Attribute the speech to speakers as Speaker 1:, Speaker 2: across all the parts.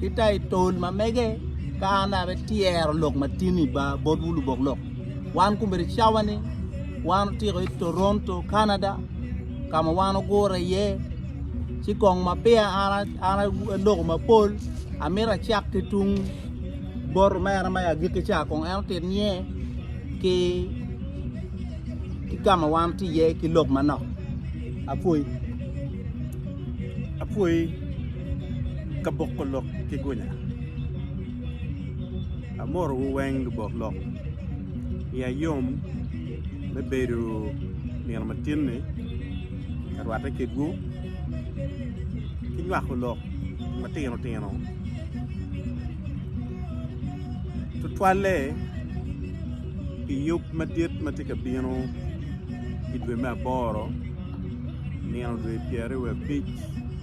Speaker 1: Ki ta i tol ma mege, ka an abe tyero lok ma tin i ba bot wu lubok lok, wan kumere cawa ni wan otiko i Toronto, Canada, ka ma wan ogure iye. Ci kong ma peya an an aloko mapol, amito acak ki tung bot omera ma i agikki ca kong en otit niye ki ki ka ma wan tye iye ki lok manok. Apwoyi. Apwoyi.
Speaker 2: ka boko lok ki gunya. Amorowu weng lubok lok, iya yom me bedo nino ma tin-ni ka rwatte kedwu ki nywako lok matino tino tutwalle pi yub madit ma tye ka bino i dwe me aboro nino dwe pyeraryo wiye abic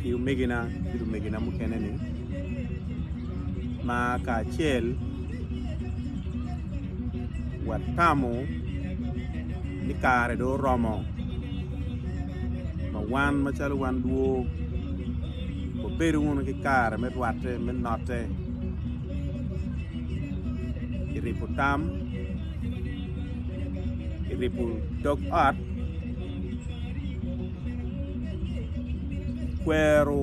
Speaker 2: ki omegina ki lumegina mukene ni ma kacel watamo ni kare dong oromo ma wan macalo wan dwor wabed wunu ki kare me rwatte me notte ki ribo tam ki ribo dog ot Kwero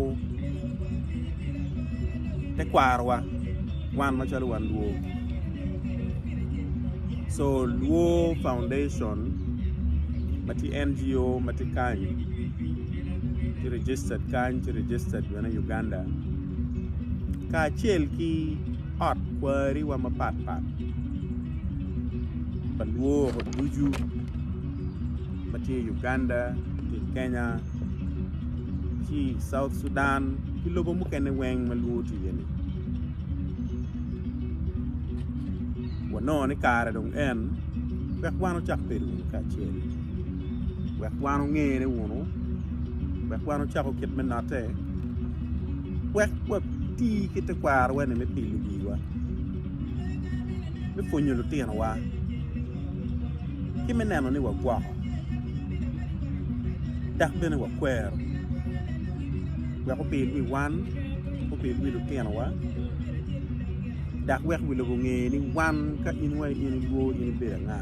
Speaker 2: tekwarowa wan macalo wan luo co luo foundation ma tye NGO ma tye kany tye registered kany tye registered bene i Uganda kacel ki ot kwariwa mapatpat pa luo ducu. ma tye i Uganda ki i Kenya ci i South Sudan ki lobo mukene weng ma lwor tye iye ni wanongo ni kare dong en wek wan wucak bedo wunu kacel wek wan wungene wunu wek wan wucako kit me notte wek wati ki tekwarowa ni me pilo wiwa. me pwonyo lutinowa ki me neno ni wagwoko dok bene wakwero wek opir wi wan, opir wi lutinowa dok wek wi lobo onge ni wan ka in wa in ilwor in ibedo anga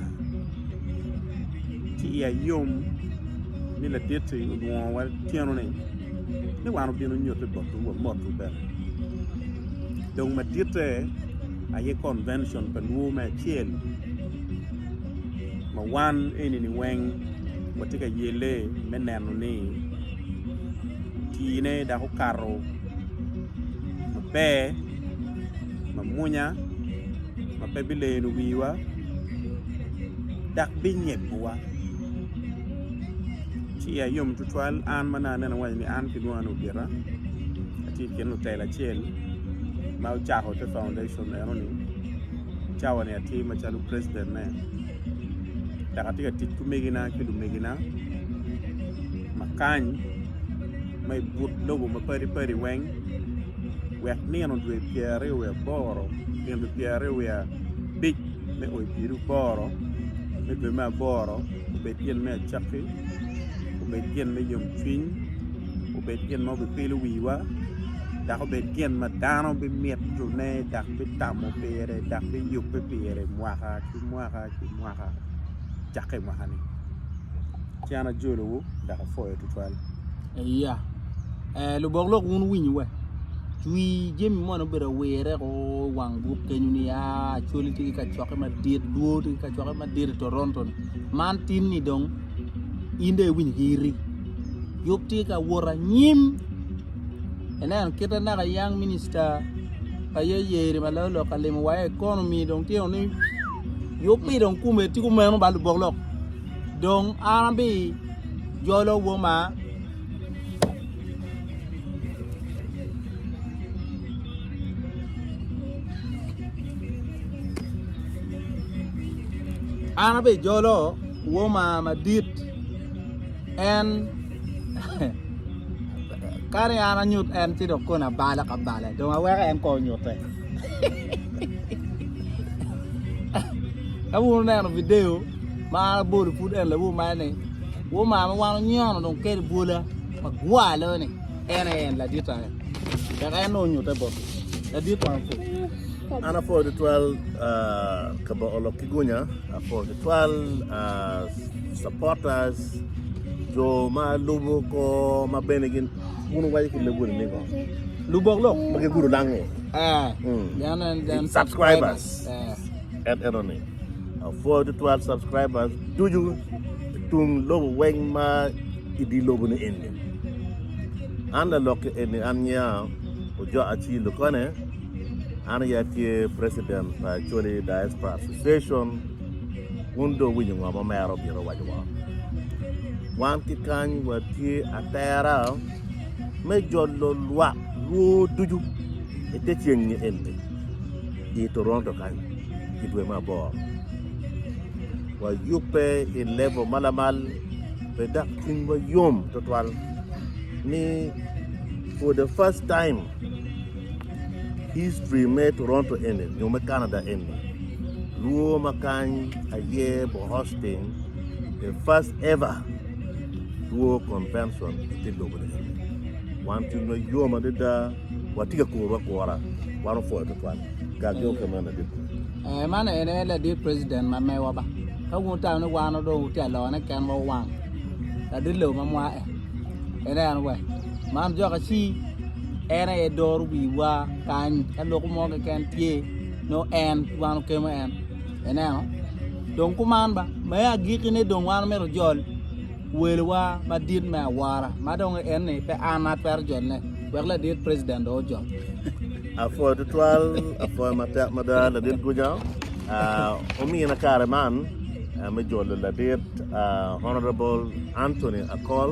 Speaker 2: ci iya yom ni laditi olwongowa tyeno-ni ni wan obino nyutte botwu wamotu bene dong maditte aye Convention pa Nwo me Acel ma wan eni-ni weng watye ka yelle me neno ni otiine dok okato maber mamwonya ma pe bileno wiwa dok binyeggowa. Ci iya yom tutwal an ma nongo aneno waci ni an kilwonga ni Ogeta atye i kin lutela acel ma ocako te foundation eno ni cawa ni atye macalo president ne dok atye ka tic ki omegina ki lumegina ma kany ma i but lobo ma padi padi weng wek nino dwe pyer aryo wiye aboro nino dwe pyer aryo wiye abic me oo pieri aboro me dwe me aboro obed gin me acakki obed gin me yom cwiny obed gin ma bipilo wiwa dok obed gin ma dano bimitone dok bitamo pire dok biyubbe pire mwaka ki mwaka ki mwaka cakke i mwaka-ni ci an ajolowu dok
Speaker 1: apwoyo tutwal. Iya,
Speaker 2: lubok
Speaker 1: lok wun winy
Speaker 2: we
Speaker 1: cwi jami moni obedo awire ko i wang buk kenyu ni ya Acholi tye ki kacokke madit, Dwor tye ki kacokke madit i Toronto-ni man tin-ni dong in dong iwinyo ki iri yub tye ka wot anyim ineno kite naka young minister pa ye yeri ma loyo lok kalimo wa economy dong tye ni yub mi dong kume tye kumeno ba lubok lok dong an abi jolo woma an abi jolo Woma madit en kadi an anyut en ci dong kona bala ka bala dong aweko en kong onyute ka wun neno video ma an abolo pud en lawu ma ni woma ma wan onyono dong kede bwola ma gwalo ni en aye en ladita en dok en nongo onyute bot ladit wang fu An apwoyo tutwal
Speaker 3: ah, ka boko lok ki gunya. Pol tutwal supporters jo ma lubo kor ma bene gin wun wuwaco ki loboni ni ngo? Lubok lok
Speaker 1: ma gigudo lango. Eh, Mm.
Speaker 3: then
Speaker 1: and then Subscribers.
Speaker 3: Eh. en eno ni apwoyo tutwal subscribers ducu tung lobo weng ma idi lobo ni eni an lalok eni an nya ojo aci lukone An aye atye president pa Acholi Diaspora Association, wun dong wuwinyo ngo ma omera obino owaco wa? Wan ki kany watye atera me jolo lwak lwo ducu i te ceng ni eni i Toronto kany i dwe me aboro. Wayubbe i level ma lamal pe dok cwinywa yom twatwal ni for the first time History me Toronto eni nyo me Canada eni lwo ma kany aye bo hosting the first ever lwo convention i te lobo ni eni. Wan cwiny wa yom adada watye ka kuru akura wan opwoyo tutwal gang yomo pe meno ladit kulu. Eh, man ene
Speaker 1: ladit president ma mewa ba. Ka wun wutamo ni wan dong wutye alone kenwa wang. Ladit lobo ma mwa eh. Ene en we. Man joka ci en aye doro wiwa kany ka loko mo keken tye nongo en ki wan okemo en ineno dong kuman ba me agikine dong wan myero ojol welowa madit me awora ma dong en ni pe an ma twero jole wek ladit president dong ojol apwoyo
Speaker 3: tutwal apwoyo matek mada ladit guja ah, omina kare man ah, me jolo ladit ah, honorable anthony akol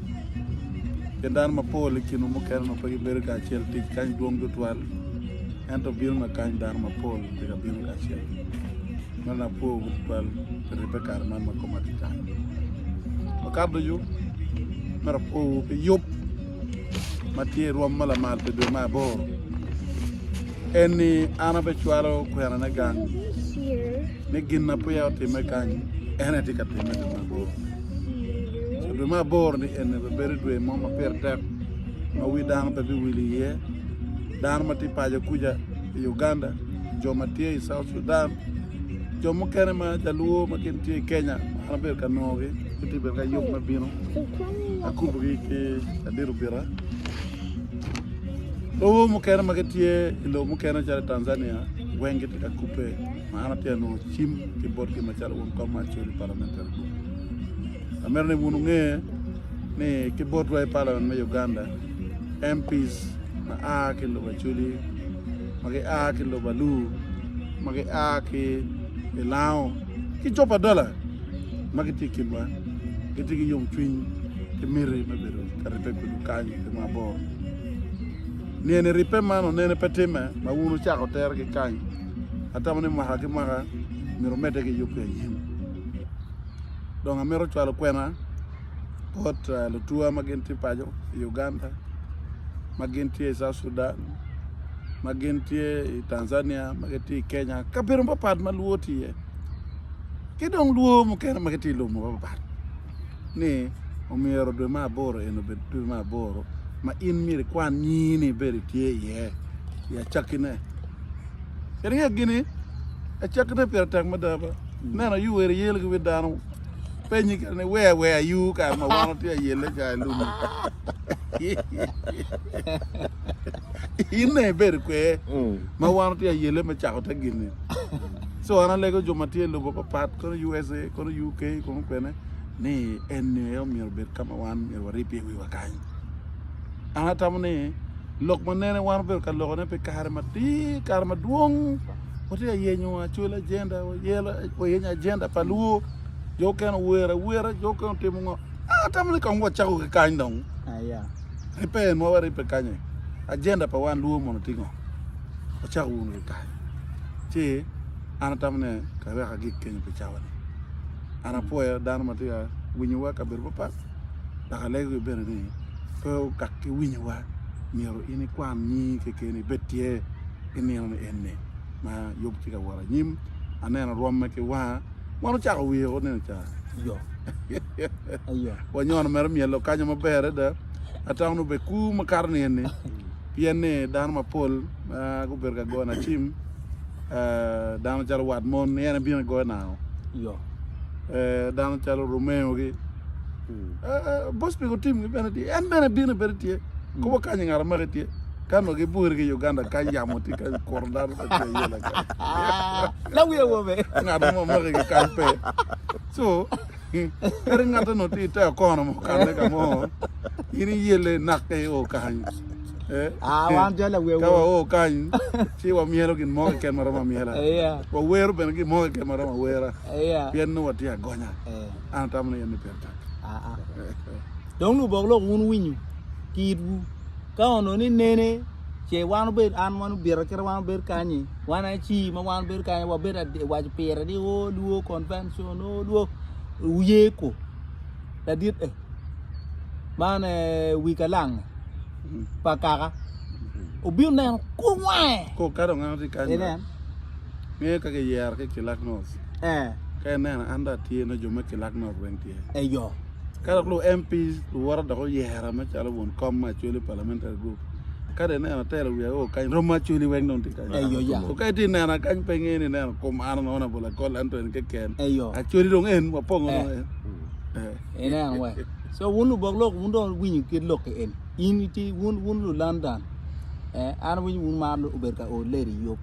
Speaker 2: Pien dano mapol i kinwu mukene onongo pe gibedo kacel i tic kany dwong tutwal, ento bino ma kany dano mapol pe ka bino kacel. Meno ni apwowu tutwal pi ribbe kare man ma koma tye kany. Wakato ducu, myero apwowu pi yub ma tye i rwom ma lamal pi dwe me aboro. en ni, An abecwalo kwerane gang ni gin ma peya otimme kany, en aye tye ka timme i dwe me aboro. I dwe me aboro-ni eni bibedo dwe mo ma pire tek ma wi dano pe biwil iye. Dano ma tye i paco kuca i Uganda, jo ma tye i South Sudan, jo mukene ma Jaluo ma gin tye i Kenya ma an abedo ka nongogi, gitye bedo ki ayub me bino akubogi ki ladit Obita. Lobo mukene ma gitye i lobo mukene calo i Tanzania weng gitye ka kubbe ma an atye ka nongo cim ki botgi macalo wun kong ma acwalo i Parliamentary Group. Amito ni wun wunge ni ki botwa i Parliament me Uganda, MPs ma a ki i lobo Acholi, ma gia ki i lobo Alur, ma gia ki i Lango ki Copadola ma
Speaker 4: gitye i kinwa gitye ki yomcwiny ki miti me bedo ka ribbe pe gukany ki mabor. Niyeni ribbe man onene pe timme ma wun wucako tere ki kany. Atamo ni mwaka ki mwaka myero omedde ki yubbe anyim. Dong amito cwalo kwena bot eh, lutuwa ma gin tye paco i Uganda, ma gin tye i South Sudan, ma gin tye i Tanzania, ma gitye i Kenya, kabedo mapatpat ma lwor tye iye. Ki dong lwor mukene ma gitye i lobo mapatpat. ni omyero dwe me aboro eni obed dwe me aboro ma in myero ikwan nyingi-ni ibedo itye iye i acakkine. Kadi ngeyo gini, acakkine pire tek mada ba. Neno yu wer iyelo ki wi dano, penyi kadi ni wer wer ayu kare ma wan watye ayelle ca i lum. Inne ibedo kwer ma wan watye ayelle me cako te gin-ni. So an alego jo ma tye i lobo papat, kono USA, kono UK, kono kwene, ni eni aye omyero obed ka ma wan myero warib iye wiwa kany. An atamo ni lok ma nene wan obedo ka lokone pi kare matir, kare madwong, watye ka yenyo actual agenda, wayenyo agenda pa luo, jo mukene ower awera, jo mukene otimo ngo. An atamo ni kong wacako ki kany dong.
Speaker 1: Ripen ma
Speaker 4: waribbe kany-ni, agenda pa wan luo mono tye ngo? Wacak wunu ki kany. ci an atamo ne kawek agik kenyo pi cawa ni an apwoya dano ma tye winyo wa kabedo papat dok alego ki bene ni pe okak ki winyo wa myero in ikwan nyingi keken ibed tye i nino ni eni ma yub tye ka wot anyim aneno rwome ki wanga wan ocako wiye o neno ca yo
Speaker 1: wanyono mere
Speaker 4: myelo kanyo maber ada atamo ni obeku makato ni eni pien ni dano mapol ma gubedo ka goyo nacim dano calo wat mon ni en ebino goyo nao dano calo Romeo gi hmm. bos piko tim gi bene tye en bene bino bene tye hmm. kobo kanyi ngara maki tye kan wa gibwori ki Uganda ka yamo tye ka kuro dano ka tye yela ka la
Speaker 1: wiye wobe ngara maki ki
Speaker 4: kan pe so Kadi ngatte onongo tye i te okono ma okanne ka mo, in iyelle inakke i o kany. Ah,
Speaker 1: wan jal awewo. Ka wao kany,
Speaker 4: ci wamyelo gin mo keken ma romo amyela. Wawero bene
Speaker 1: gin mo
Speaker 4: keken ma romo awera. Pien nongo watye
Speaker 1: agonya.
Speaker 4: An atamo ni enni pire tek.
Speaker 1: Dong lubok lok wun winyo ki itwu. Ka onongo ni nene, ce wan obed an wan obita kite wan obed kanyi. Wan aye ci ma wan bedo kany wabedo waco pire ni o oh, luo convention o oh, luo uye ko ladit e man wi kalang pa kaka obino neno ko wange ko ka dong an oti
Speaker 4: kany nge ka ke yer ke kilak nos eh ka neno an da tye no jo me kilak nos weng tye e yo
Speaker 1: ka dok lu
Speaker 4: MP luwara dok oyera ma calo won kom ma chwele parliamentary group Kadi ne atelo wiya o kany rom maculi weng dong tye kany. Eyo ya. So kadi tye
Speaker 1: nena kany
Speaker 4: pe nge ni nena kom ano no na bola kol ento en keken. Eyo. Aculi dong en
Speaker 1: wapongo
Speaker 4: dong eh. en. Eh.
Speaker 1: En en we. So wun lubok lok wun dong winyo kit lok ke en. In iti wun wun lu London. Eh an winyo wun mar obed ka o lady yop.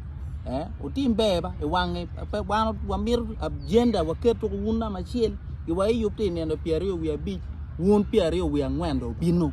Speaker 1: Eh utim ber ba i wange pe wan wamir agenda waket tuko wun nama chiel. Iwa i yop ti neno piario wi abic wun piario wi angwen do bino.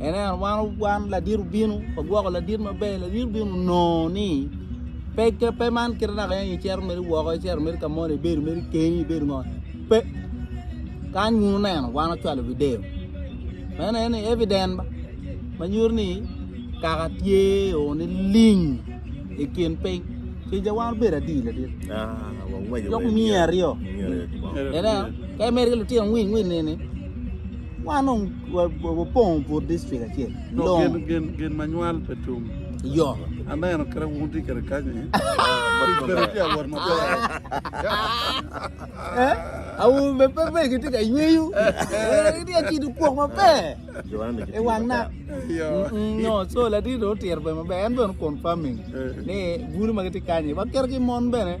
Speaker 1: Enen, wan, wan ladit obino, wagwoko ladit maber, ladit obino onongo ni pe ke pe man kite naka en icero mere woko, icero mere ka moni, ibedo mere keni, ibedo ngo. Pe. Kan wunu neno, wan wacwalo video. Meno en ni evident ba. Manyuto ni kaka tye o ni ling i kin piny. Kija wan bedo adi ladit. Jok miye aryo. Enen, ka imedo ki lutino ngwing ngwing ni ni. Wan dong wapongo but dictrict acel. Long. Gin,
Speaker 4: gin ma nywal pe tum. Yo.
Speaker 1: Aneno kere
Speaker 4: wun tye kere kanyi. Kere tye awot maber.
Speaker 1: Eh? Awu me pe pe ki tye ka yweyo. Eh, tye acido kwok maber. E wang na. Yo. Nyo, so latin do otiro pe maber. En bene confirming. Ni guni ma gitye kanyi. Waketo ki mon bene.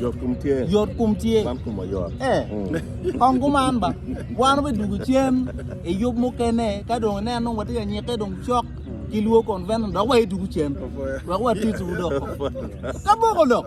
Speaker 3: yot kom tye. Kong
Speaker 1: kuman ba, wan obed dwogo cen i yub mukene ka dong inen nongo watye ka nyikke dong cok ki lwo konvent dok waye dwogo cen wek watye ki dok kaboko dok.